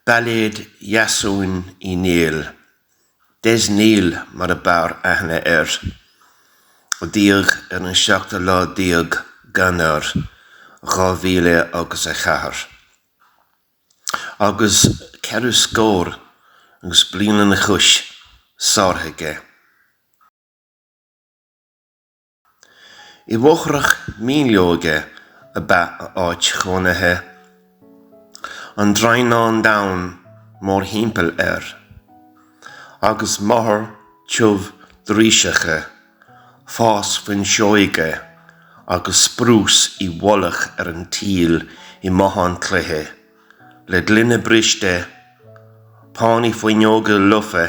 Bailéad Dheasúin Uí Néill, Des Neill mar a b'fhearr aithne air, a d'éag ar an seachtú lá déag d'Eanáir dhá mhíle agus a ceathair, agus ceithre scór agus bliain an chúis sáraithe aige. I bhfothrach míolóige ab ea a áit chónaithe, an draighneán donn mórthimpeall air, agus mothar tiubh driseacha, fás fuinseoige agus sprús i bhfolach ar an tsaol i mbothán cloiche, le gloine briste, pánaí fuinneoige lofa,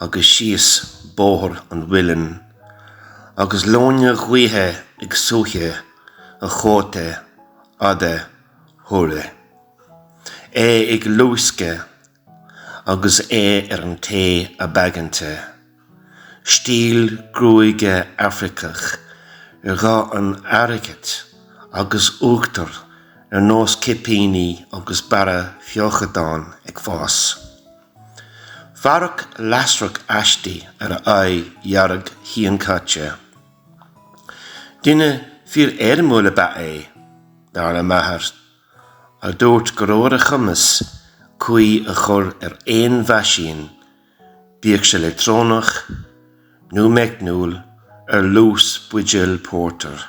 agus síos Bóthar an Mhuilinn agus leoithne ghaoithe ag suaitheadh a chóta fhada shuaraigh. É ag luascadh agus é ar an té ab aigeanta. Stíl gruaige Afraiceach ar dhath an airgid agus uachtar ar nós cipíní agus barra feochadáin ag fás. Fearadh lasrach aisti ar a aghaidh dhearg shíonchaite. Duine fíor-éirimiúil ab ea é, dar le m'athair, a dúirt go raibh ar a chumas caoi a chur ar aon mheaisín, bíodh sé leictreonach nó meicniúil, ar luas buidéil pórtair.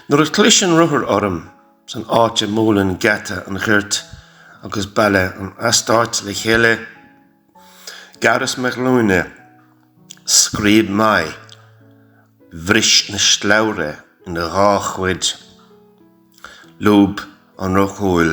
Nuair a chlis an rothar orm san áit a mbuaileann geata an ghoirt agus baile an eastáit le chéile, ghearras mo ghlúine, scríob m'aghaidh, bhris an slabhra ina dhá chuid, lúb an roth cúil.